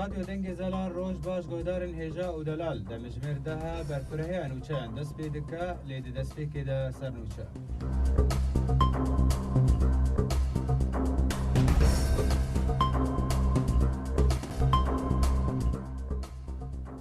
Radyo Dengê Zelan roj baş godarên hêja û delal demijmêr daha berkureheya nûçeyan dest pê dike lê di destpêkê de ser nûçe.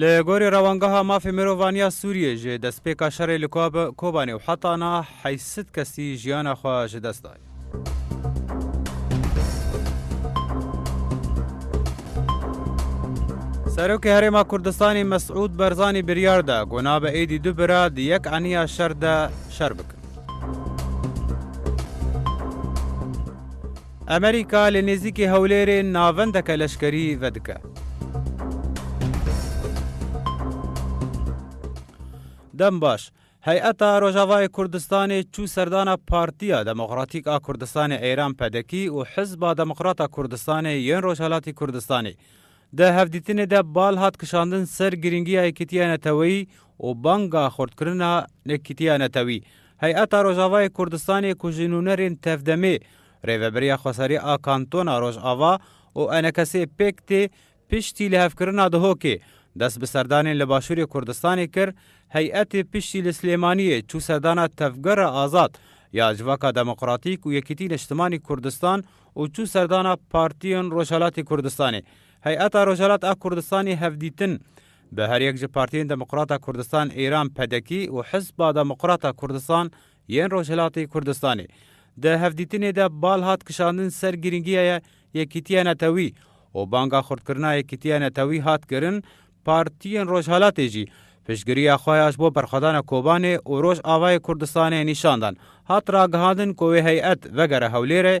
Li gorî Rewangeha Mafê Mirovan ya Sûriyê ji destpêka şerê li Kobanê û heta na heysit kesî jiyana xwe ji dest daye. Serokê Herêma Kurdistanê Mesûd Berzanî biryar da ku nabe êdî du bira di yek eniya şer de şer bikin. Amerîka li nêzîkî Hewlêrê navendeke leşkerî vedike. Dembaş, Heyeta Rojavayê Kurdistanê çû serdana Partiya Demokratîk a Kurdistanê Eyran, PDK, û Hizba Demokrat a Kurdistanê yên Rojhilatî Kurdistanê. Di hevdîtinê de bal hat kişandin ser girîngiya yekîtiya neteweyî û banga xurtkirina yekîtiya netewî. Heyeta Rojavayê Kurdistanê ku ji nûnerên tevdemê Rêveberiya Xwesarî a Kantona Rojava û enekesê pêk tê piştî lihevkirina Dihokê, dest bi serdanên li başûrê Kurdistanê kir, heyetê piştî li Silêmaniyê çû serdana Tevgera Azad ya Civaka Demokratîk û Yekîtî Niştimanî Kurdistan û çû serdana Partiyên Rojhilatê Kurdistanê. Heyeta Rojhilat a Kurdistanê hevdîtin bi her yek ji Partiyên Demokrata Kurdistan Îran, PDKî, û Hizba Demokrata Kurdistan Yên Rojhilatê Kurdistanê, Di hevdîtinê de bal hat kişandin ser girîngiyaya Yekîtiya Netewî û banga xurtkirina Yekîtiya Netewî hat kirin, partiyên Rojhilatê jî piştgiriya xwe ya ji bo berxwedana Kobanê û Rojavayê Kurdistanê nîşan dan. Hat ragihandin ku wê heyet vegere Hewlêrê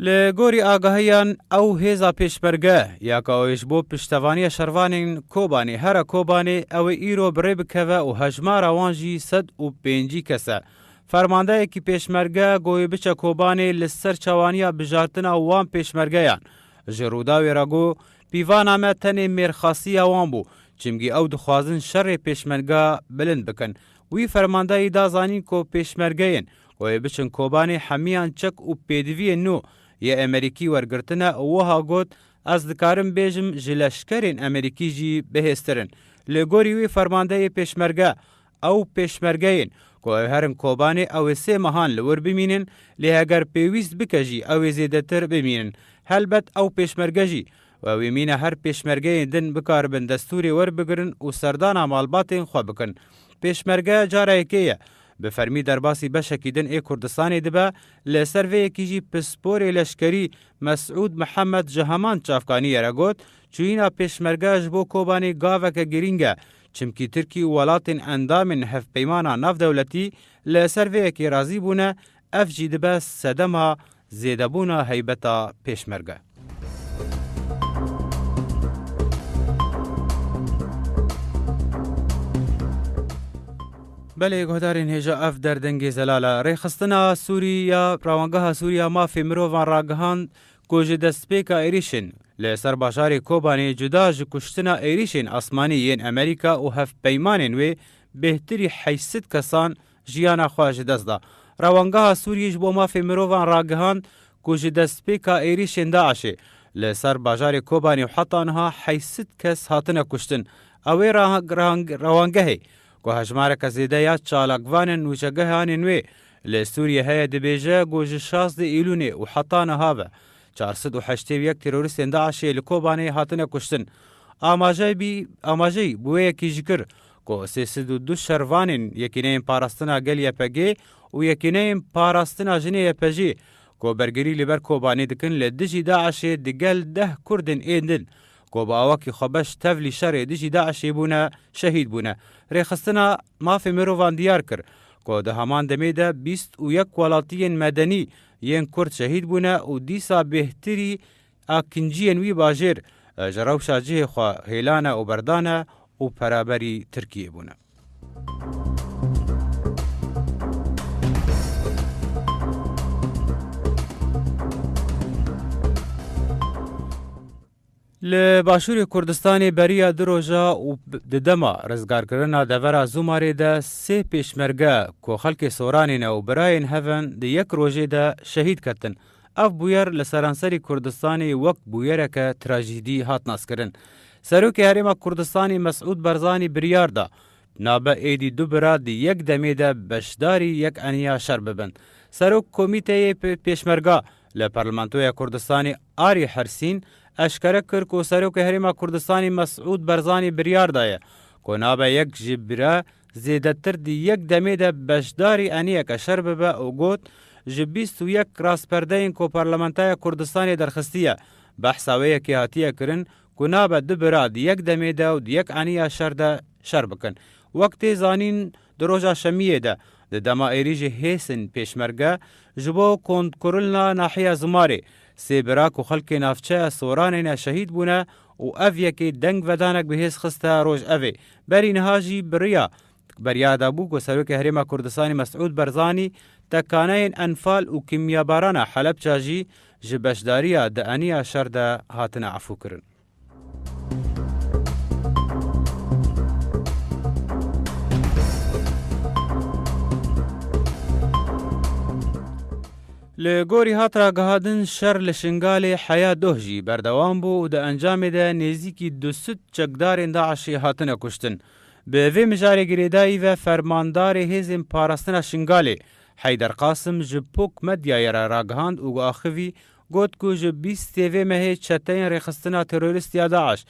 Li gorî agahiyan ew hêza pêşmerge ya ka wê ji bo piştevaniya şervanên Kobanê here Kobanê ew ê îro bi rê bikeve û hejmara wan jî sed û pêncî kes e. Fermandeyekî pêşmerge got wê biçe Kobanê li ser çawaniya bijartina wan pêşmergeyan. Ji Rûdawê re got pîvana me tenê mêrxasiya wan bû çimkî ew dixwazin şerê pêşmerga bilind bikin. Wî fermandeyî da zanîn ku pêşmergeyên Ku ê biçin Kobanê hemiyan çek û pêdiviyên nû yê Emerîkî wergirtine û wiha got, Ez dikarim bêjim ji leşkerên Emerîkî jî bihêztir in. Li gorî wî fermandeyê pêşmerge, ew pêşmergeyên ku ew herin Kobanê ew ê sê mehan li wir bimînin, lê heger pêwîst bike jî ew ê zêdetir bimînin. Helbet ew pêşmerge jî we wê mîne her pêşmergeyên din bikaribin destûrê werbigirin û serdana malbatên xwe bikin. Pêşmerge cara yekê ye Bi fermî derbasî beşekî din ê Kurdistanê dibe, li ser vê yekî jî pisporê leşkerî Mesûd Mihemed ji heman çavkaniyê re got, Çûyîna pêşmerge ji bo Kobanê gaveke girîng e, çimkî Tirkî û welatên endamên Hevpeymana Navdewletî li ser vê yekê razî bûne, Ev jî dibe sedema zêdebûna heybeta Pêşmerge. Belê guhdarên hêja ev derdengê zelal e. Rêxistina Sûrî ya Rawangeha Sûriya Mafê Mirovan ragihand ku ji destpêka êrîşên li ser bajarê Kobanê cuda ji kuştina êrîşên asmanî yên Amerîka û hevpeymanên wê bêhtirî heşt sed kesan jiyana xwe ji dest da. Rewangeha Sûriyê ji bo Mafê Mirovan ragihand ku ji destpêka êrîşên DAIŞ'ê li ser bajarê Kobanê û heta niha heysit kes hatine kuştin. Ew ê rewangehê ku hejmareke zêde ya çalakvanên wêjegehanên wê li Sûriyê heye dibêje ku ji şazdeh Îlûnê û heta niha ve çar sed û heştê û yek terorîstên DAIŞ'ê li Kobanê hatine kuştin. Amajeyî bi wê yekî jî kir, ku sê sed û du şervanên Yekîneyên Parastina Gel YPG û Yekîneyên Parastina Jinê YPJ ku bergirî li ber Kobanê dikin li dijî DAIŞ'ê di gel deh Kurdên ên din ku bi awakî xwebeş tevlî şerê dijî DAIŞ'ê bûne şehîd bûne. Rêxistina Mafê Mirovan diyar kir ku di heman demê de bîst û yek welatiyên medenî yên Kurd şehîd bûne û dîsa bêhtirî A kinciyên wî bajêr ji rewşa cihê xwe hêlane û berdane û peraberî Tirkiyê bûne. Li başûrê Kurdistanê beriya du roja û di dema rizgarkirina devera Zûmarê de sê pêşmerge ku xelkê Soranê ne û birayên hev in di yek rojê de şehîd ketin. Ev bûyer li seranserî Kurdistanê wek bûyereke trajîdî hat naskirin. Serokê Herêma Kurdistanê Mesûd Barzanî biryar da, nabe êdî du bira di yek demê de beşdarî yek eniya şer bibin. Serok Komîteyê Pêşmerga li Parlamentoya Kurdistanê Arî Hersîn eşkere kir ku Serokê Herêma Kurdistanê Mesûd Barzanî biryar daye ku nabe yek ji bira Zêdetir di yek demê de beşdarî eniyeke şer bibe û got, Ji bîst û yek rasperdeyên ku Parlamentoya Kurdistanê derxistiye, behsa wê yekê hatiye kirin ku nabe du bira di yek demê de û di yek eniya şer de şer bikin. Wek tê zanîn di roja şemiyê de di dema êrîjê hêsên pêşmerge ji bo kontkurlna nahiya Zimarê, sê bira ku xelkê navçeya Soranê ne şehîd bûne û ev yekê dengvedanek bi hêz xiste rojevê. Berî niha jî biriya beriya de bû ku Serokê Herêma Kurdistanê Mesûd Berzanî tekaneyên enfal û kîmyabarana Helepça jî ji beşdariya di eniya şer de hatine efûkirin. Li gorî hat ragihandin şer li Şingalê heya doh jî berdewam bû û di encamê de nêzîkî du sed çekdarên DAIŞ'ê hatine kuştin. Bi vê mijarê girêdayî ve Fermandarê Hêzên Parastina Şingalê Heyder Qasim ji pok medyayê re ragihand û axivî got ku ji bîstê vê mehê çeteyên rêxistina terorîst ya DAIŞ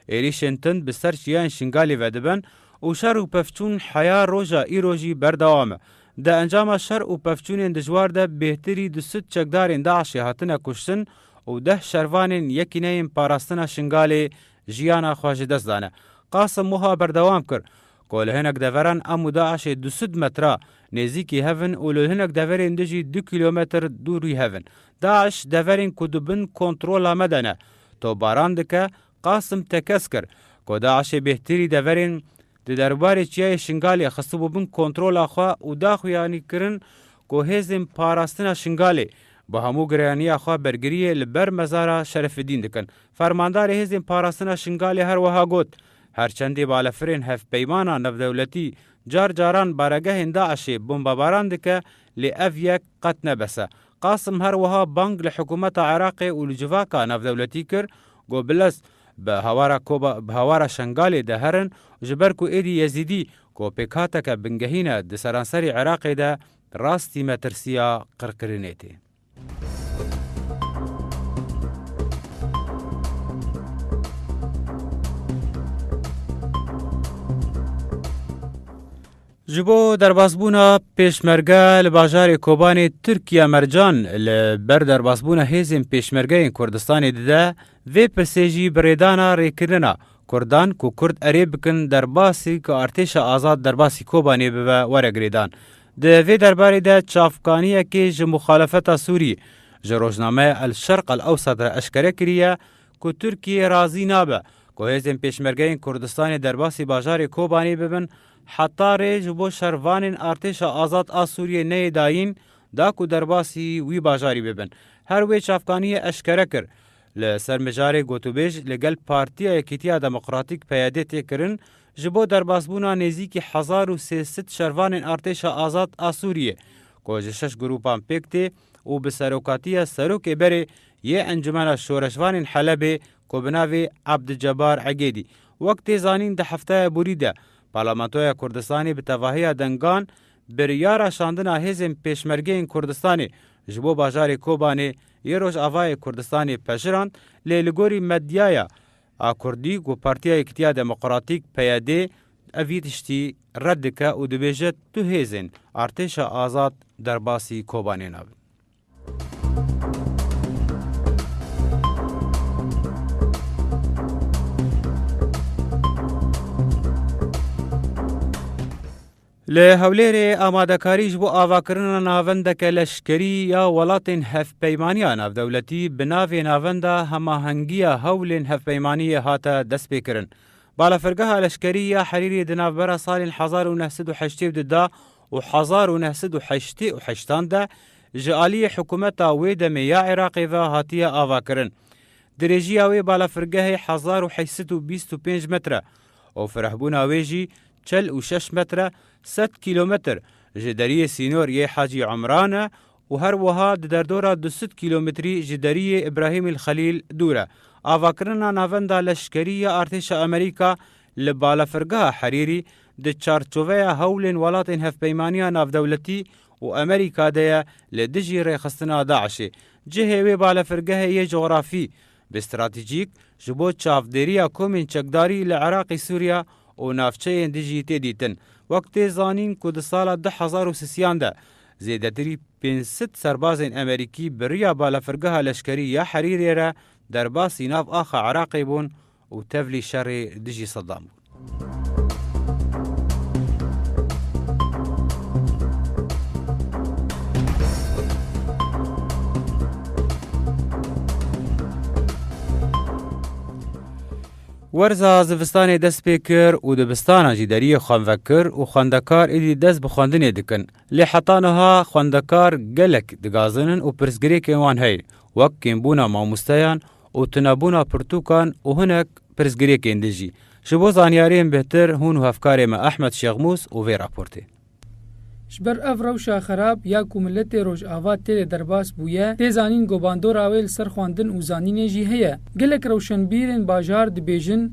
êrîşên tind bi ser çiyayên Şingalê ve dibin û şer û pevçûn heya roja îro jî berdewam e. Di encama şer û pevçûnên dijwar de bêhtirî du sed çekdarên DAIŞ'ê hatine kuştin û deh şervanên Yekîneyên Parastina Şingalê jiyana xwe ji dest dane. Qasim wiha berdewam kir ku li hinek deveran em û DAIŞ'ê du sed metra nêzîkî hev in û li hinek deverên din jî du kîlometr dûrî hev in. DAIŞ deverên ku di bin kontrola me de ne, topbaran dike, Qasim tekez kir ku DAIŞ'ê bêhtirî deverên di derbarê Çiyayê Şingalê xistibû bin kontrola xwe û daxuyanî kirin ku hêzên parastina Şingalê bi hemû gireyaniya xwe bergiriyê li ber mezara Şerefidîn dikin. Fermandarê hêzên parastina Şingalê her wiha got, Her çendê balefirên hevpeymana navdewletî car caran baregehên DAIŞ'ê bombebaran dike lê ev yek qet ne bes e. Qasim her wiha bang li hikûmeta Iraqê û li civaka navdewletî kir ku bi lez bi hawara koba bi hawara Şengalê de herin ji ber ku êdî Yezîdî ku pêkhateke bingehîn e di seranserî Iraqê de rastî metirsiya qirkirinê tê. Ji bo derbasbûna Pêşmerge li bajarê Kobanê Tirkiye mercan li ber derbasbûna hêzên Pêşmergeyên Kurdistanê dide, vê pirsê jî bi rêdana rêkirina Kurdan ku Kurd erê bikin derbasî ku Artêşa Azad derbasî Kobanê bibe were girêdan. Di vê derbarê de çavkaniyekê ji muxalefeta Sûrî ji rojnameya El Şerq El Ewsat re eşkere kiriye ku Tirkiye razî nabe ku hêzên Pêşmergeyên Kurdistanê derbasî bajarê Kobanê bibin Heta rê ji bo şervanên Artêşa Azad a Sûriyê neyê dayîn da ku derbasî wî bajarî bibin. Her wê çavkaniyê eşkere kir, Li ser mijarê gotûbêj li gel Partiya Yekîtiya Demokratîk, PYD, tê kirin ji bo derbasbûna nêzîkî hezar û sê sed şervanên Artêşa Azad a Sûriyê ku ji şeş grûpan pêk tê û bi serokatiya Serokê Berê yê Encûmena Şoreşvanên Helebê ku bi navê Abdicebar Egêdî Wek tê zanîn di hefteya borî de Parlamentoya Kurdistanê bi tevahiya dengan biryara şandina hêzên Pêşmergeyên Kurdistanê ji bo bajarê Kobanê yê Rojavayê Kurdistanê pejirand lê li gorî medyaya a Kurdî ku Partiya Yekitiya Demokratîk, PYD, ev yê tiştî red dike û dibêje tu hêzên Artêşa Azad derbasî Kobanê nabin. Li Hewlêrê amadekarî ji bo avakirina navendeke leşkerî ya welatên Hevpeymaniya Navdewletî bi navê Navenda Hemahengiya Hewlên Hevpeymaniyê hate destpêkirin. Balafirgeha leşkerî ya Herîrê di navbera salên hezar û neh sed û heştê û du de û hezar û neh sed û heştê û heştan de ji aliyê hikûmeta wê demê ya Iraqê ve hatiye avakirin. Dirêjiya wê balafirgehê hezar û heşt sed û bîst û pênc metr e û firehbûna wê jî çel û şeş metr e, sed kîlometr ji deriyê sînor yê Hacî Umran e û her wiha di derdora du sed kîlometrî ji deriyê Îbrahîmîl Xelîl dûr e. Avakirina navenda leşkerî ya artêşa Amerîka li balafirgeha Herîrî di çarçoveya hewlên welatên Hevpeymaniya Navdewletî û Amerîka de ye li dijî rêxistina DAIŞ'ê. Cihê wê balafirgehê yê cografî bi stratejîk ji bo çavdêriya komên çekdarî li Iraqê Sûriya û navçeyên dijî tê dîtin. Wek tê zanîn ku di sala du hezar û sisiyan de Zêdetirî pênc sed serbazên Amerîkî bi riya balafirgeha leşkerî ya Herîrê re derbasî nav axa Iraqê bûn û tevlî şerê dijî Sedam bûn. Werza zivistanê dest pê kir û dibistana jî deriyê xwe vekir û xwendekar êdî dest bi xwendinê dikin. Lê heta niha xwendekar gelek digazinin û pirsgirêkên wan heye, wek kêmbûna mamosteyan û tunebûna pirtûkan û hinek pirsgirêkên din jî. Ji bo zanyariyên bêhtir hûn û hevkarê me Ehmed Şêxmûs û vê raportê. Ji ber ev rewşa xerab ya ku miletê Rojava têdê derbas bûye, tê zanîn ku bandora wê li ser xwendin û zanînê jî heye. Gelek rewşenbîrên bajar dibêjin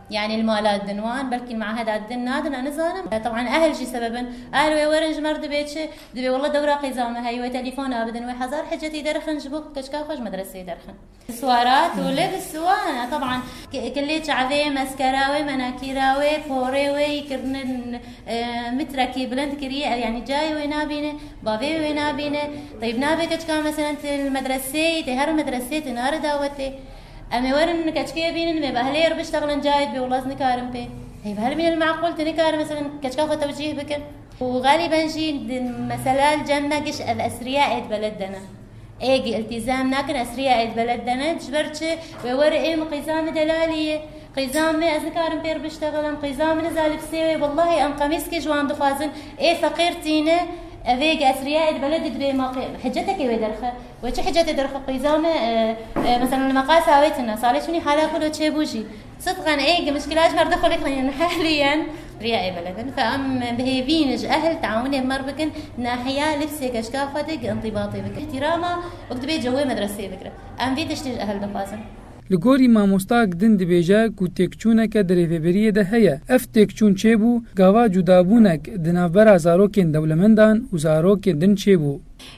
Yanî li mala din wan belkî li meaheda din nadin a nizanim teban ehl jî sebeb in a li wê werin ji me re dibê çi dibê walla dewra qêza me heye wê telîfon a bidin wê hezar hicetî derxin ji bo ku keçika xwe ji medreseyê derxin swara tu lê bi siwana teban kilê çavê meskera wê menakîra wê porê wê yî kirine mitrekî bilind kiriye ev yanî cayê wê nabîne bavê wê nabîne teyb nabe keçika me selen tê li medreseyê tê her medreseyê tê nare dawetê. Em ê werin keçikê bînin vê behlê ir biştexlin cayê dibê wila ez nikarim pê hêv herim îne li meqûl tu nikare meselên keçika xwe tewcîh bikin û xelîben jî mesela li cem me giş ev esriya êd beled dene ê gi îltîzam nakin esriya êd beled dene ji ber çi wê were ê min qîza min delalî ye qîza min ez nikarim pê ir biştexlim qîza min niza li pisê wê wellahî em qemîskê ji wan dixwazin ê feqîr tîne ev ê gi esriya êd beled dibê ma qê hecetekê wê derxe. We çi hicetê derxwe qîza me? Mesela li meqal sawê tune, salê çûnî hala ku do çêbû jî. Sidqan ê gi muşkila ji merda xwe lê xwe yên hehlî yen. Riya ê beled in. Fe em bihêvîn ji ehl teawunê mer bikin, nahiya lifsê geşka xwe de gi întibatê bikin. Îhtîrama wek dibê cewê medreseyê bikire. Em vê tiştê ji ehl dixwazin. Li gorî mamosta Gidin dibêje ku têkçûneke di rêveberiyê de heye. Ev têkçûn çêbû, gava cudabûnek di navbera zarokên dewlemendan û zarokên din çêbû.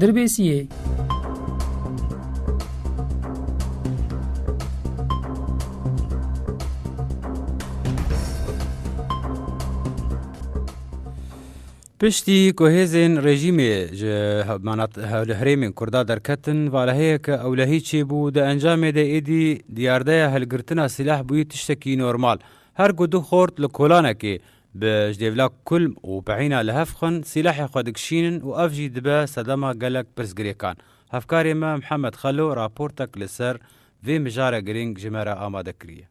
Dirbêsiyê. Piştî ku hêzên rejîmê ji herêmên Kurda derketin, valeheyeke ewlehî çêbû, di encamê de êdî diyardeya hilgirtina sîlah bûyî tiştekî normal. Her ku du xort li kolanekê Bi jdêvla kulm û pehîna li hev xwin sîlahê xwe dikişînin û ev jî dibe sedema gelek pirsgirêkan. Hevkarê me Mihemed Xelo raportek li ser vê mijare girîng ji me re amade kiriye.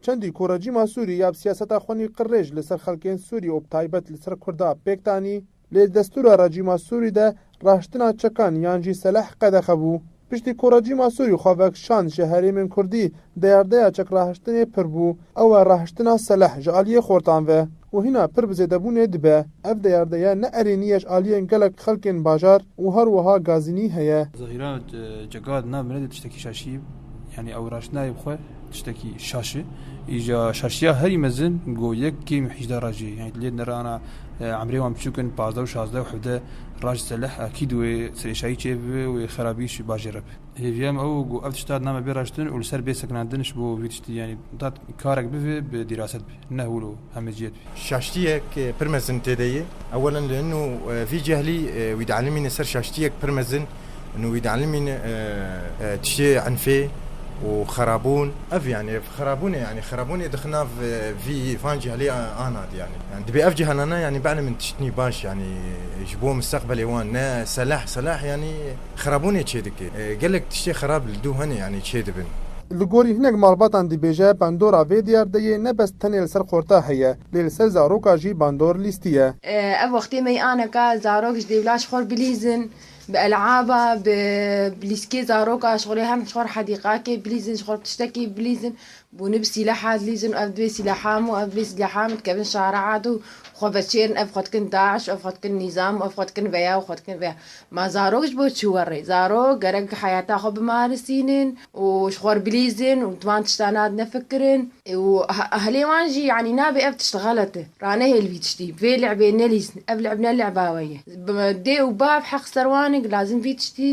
Çendî ku rejîma Sûrî ya bi siyaseta xwenî qirrêj li ser xelkên Sûrî û bi taybet li ser Kurda pêk danî, Lê destûra rejîma Sûrî de raştina çekan yan jî seleh qedexe bû. Piştî ku rejîma Sûrî xwe vekişand ji herêmên Kurdî, deyardeya çekrahiştinê pir bû. Ew e rahiştina seleh ji aliyê xortan ve û hîna pir bi zêdebûnê dibe. Ev deyardeya ne erênî ye ji aliyên gelek xelkên bajar û her wiha Gazînî heye. Zehîra Cegad na miredê tiştekî şaşî yanî ew raştinayê bi xwe. Tiştekî şaş e. Îja şaşiya herî mezin go yek kêm û hîjda racê. Yani lê nere ana emrê wan biçûk in pazdeh û şazdeh û hevdeh rac seleh akîd wê serêşayî çê bibe wê xerabî ji bajê re be. Hêviya me ew go ev tişt dat name bê raştin û li ser bê sekinandin ji bo vî tiştî yani dat karek bivê bi dîraset be. Nehûlo heme cî ye divî. Şaştiyek pir mezin têde ye. Ewelen li hin û vî cehlî wî dielîmîne ser şaştiyek pir mezin û wî dielîmîne tiştê enfê û xerabûn. Ev yanî ev xerabûnê yanî xerabûnê dixin nav vî van cehlî ana dî yanî. Yanî dibê ev cihana ne yanî bielîmin tiştnî baş yanî ji bo mistaqbelê wan ne seleh seleh yanî. xirabûnê çêdike. Gelek tiştê xirab li dû hene yanî çêdibin. Li gorî hinek malbatan dibêje bandora vê diyardeyê ne bes tenê li ser qorta heye lê li ser zaroka jî bandor lîstî ye. Ev wextê meyanek ka zarok ji dêvla ji xor bilîzin, bi elaba, bi lîskê zarok a ji xorê hem ji xor hedîqakê bilîzin, ji xor tiştekî bilîzin, bûne bi sîleha dilîzin û ev divê sîleha min û ev divê sîleha min dikevin şareat û xwe veçêrin ev xwe dikin daiş û ev xwe dikin nîzam û ev xwe dikin veya û xwe dikin veya. Ma zarok ji bo çi were? Zarok gerek heyata xwe bimarisînin û ji xwe re bilîzin û di van tiştan re nefikirin û ahlê wan jî yanî nabê ev tişt xelet e, ranehêl vî tiştî, vê lecbê nelîzin, ev lecb ne lecba we ye. Dê û bav heq li ser wan e ku lazim vî tiştî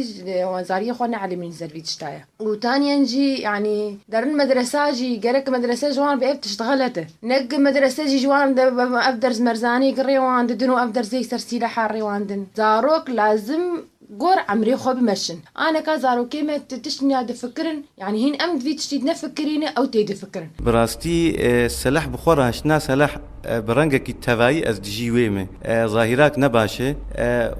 zariyê xwe neelîmînin li ser vî tişta ye. Û taniyen jî yanî derin medresa jî gerek medrese ji wan re bi ev tişt xelet e. Neg medrese jî ji wan re ev ders merzanî ki rêwan didin û ev ders yek ser sîleha rêwan din. Zarok lazim gor emrê xwe bimeşin. Aneka zarokê me ti tiştên ya difikirin yanî hîn em di vî tiştî de nefikirîne ew tê difikirin. Bi rastî seleh bi xwe re hiştina seleh Bi rengekî tevayî ez dijî wê me. Zahirak ne baş e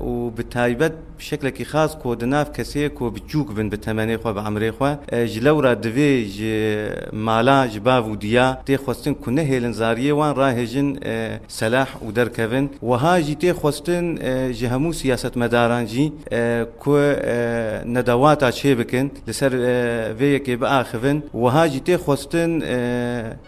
û bi taybet bi şeklekî xas ku di nav kesê ku biçûk bin bi temenê xwe, bi emrê xwe. Ji lewra divê ji mala, ji bav û diya tê xwestin ku nehêlin zariyê wan rahêjin selah û derkevin. Wiha jî tê xwestin ji hemû siyasetmedaran jî ku nedewata çê bikin, li ser vê yekê biaxivin, wiha jî tê xwestin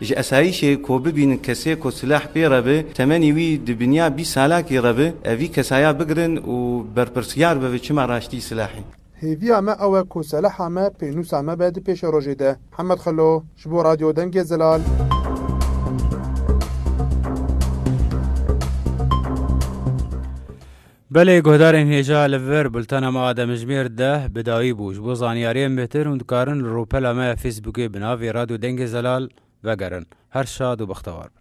ji esayîşê ku bibînin kesê ku silah pê re be, temenî wî di binya bîst salakî re be, ev vî kesaya bigirin û berpirsyar bibe çima raştî silahê. Hêviya me ew e ku selaha me pênûsa me be di pêşerojê de. Hemed Xelo ji bo Radyo Dengê Zelal. Belê guhdarên hêja li vir bultena me a demjimêr deh bi dawî bû. Ji bo zanyariyên bêhtir hûn dikarin li rûpela me ya Fêsbûkê bi navê Radyo Dengê Zelal vegerin. Her şad û bextewar bin.